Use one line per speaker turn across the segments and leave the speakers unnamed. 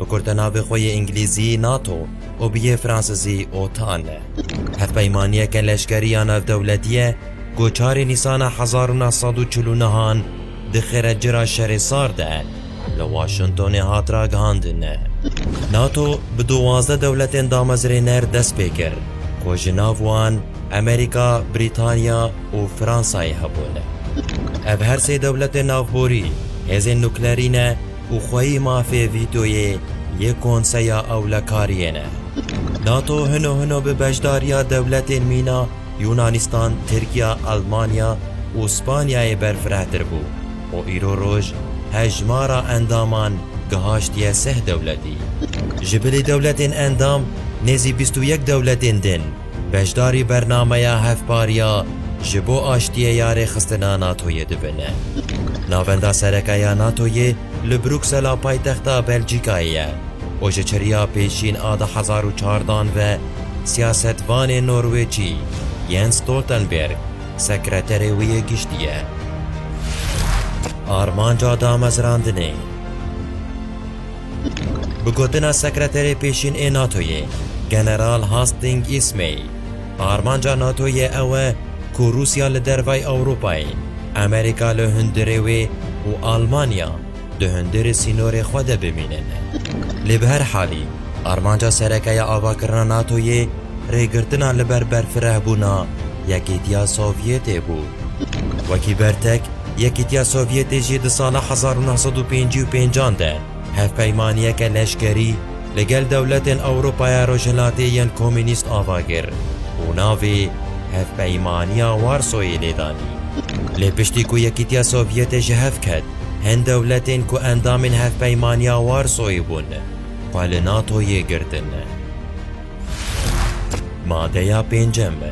bikurde navê xwe yê Îngilîzî NATO û bi yê Fransizî OTAN e. Hevpeymaniyeke leşkerî ya navdewletî ye ku çarê Nîsana hezar û neh sed û çil û nehan di xêrecira Şerê Sar de li Waşingtonê hat ragihandin. NATO bi duwazdeh dewletên damezrêner dest pê kir ku ji nav wan Amerîka, Brîtanya û Fransayê hebûn. Ev her sê dewletên navborî hêzên nuklerî ne, Û xweyî mafê vîtoyê yê Konseya Ewlekariyê ne. NATO hino hino bi beşdariya dewletên mîna Yûnanîstan, Tirkiya, Elmanya û Spanyayê berfirehtir bû û îro roj hejmara endaman gihaştiye seh dewletî. Ji bilî dewletên endam nêzî bîst û yek dewletên din. beşdarî bernameya hevpariya ji bo aştiyê ya rêxistina NATOyê dibin. Navenda sereke ya NATOyê li Bruksela paytexta Belcîkayê ye û ji çiriya pêşîn a du hezar û çar dan ve siyasetvanê Norwêcî Jens Stoltenberg sekreterê wê yê giştî ye. Armanca damezrandinê. Bi gotina Sekreterê Pêşîn ê NATOyê General Hastings Ismay, armanca NATOyê ew e ku Rûsya li dervayî Ewropayê, Amerîka li hundirê wê û Almanya di hundirê sînorê xwe de bimînin. Lê bi her halî armanca sereke ya avakirina NATOyê rêgirtina li ber berfirehbûna Yekîtiya Sovyetê bû. Wekî bertek, Yekîtiya Sovyetê jî di sala hezar û neh sed û pêncî û pênc an de hevpeymaniyeke leşkerî li gel dewletên Ewropaya Rojhilatê yên Komûnîst ava kir û navê Hevpeymaniya Warsoyê lê danî. Lê piştî ku Yekîtiya Sovyetê ji hev ket, hin dewletên ku endamên Hevpeymaniya Warsoyê bûn xwe li NATO'yê girtin. Madeya pêncem be.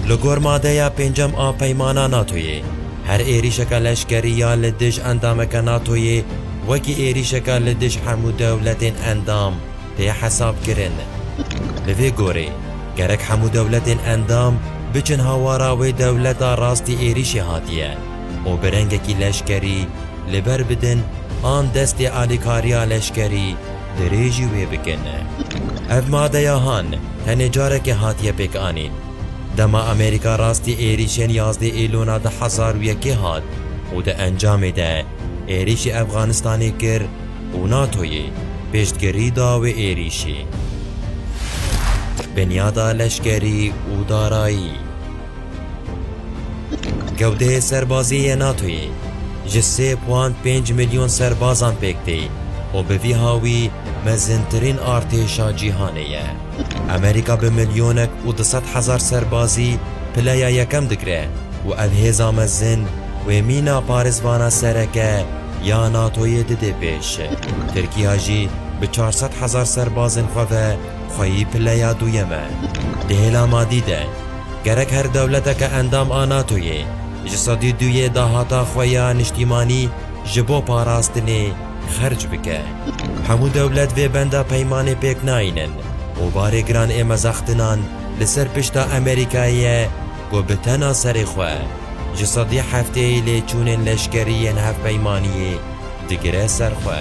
Li gor madeya pêncem a peymana NATOyê, her êrîşeke leşkerî ya li dij endameke NATOyê wekî êrîşeke li dij hemû dewletên endam tê hesabkirin. Li vê gorê, gerek hemû dewletên endam biçin hawara wê dewleta rastî êrîşê hatiye. û bi rengekî leşkerî li ber bidin an destê alîkariya leşkerî dirêjî wê bikin. Ev madeya han tenê carekê hatiye pêkanîn. Dema Amerîka rastî êrîşên yazdeh Êlûna du hezar û yekê hat û di encamê de êrîşî Efxanistanê kir û NATO'yê piştgirî da wê êrîşî. Binyada leşkerî û darayî. Gewdeyê serbazî yê NATOyê ji sê puan pênc milyon serbazan pêk tê û bi vî hawî mezintirîn artêşa cîhanê ye. Amerîka bi milyonek û du sed hezar serbazî pileya yekem digire û ev hêza mezin wê mîna parêzvana sereke ya NATOyê didê pêş. Tirkîya jî bi çar sed hezar serbazên xwe ve Xweyî pileya duyem e. Di hêla madî de, gerek her dewleteke endam a NATOyê ji sedî du yê dahata xwe ya niştîmanî ji bo parastinê xerc bike. Hemû dewlet vê benda peymanê pêk nayînin û barê giran ê mezextinan li ser pişta Amerîkayê ye ku bi tena serê xwe ji sedî hefteyê lêçûnên leşkerî yên hevpeymaniyê digire ser xwe.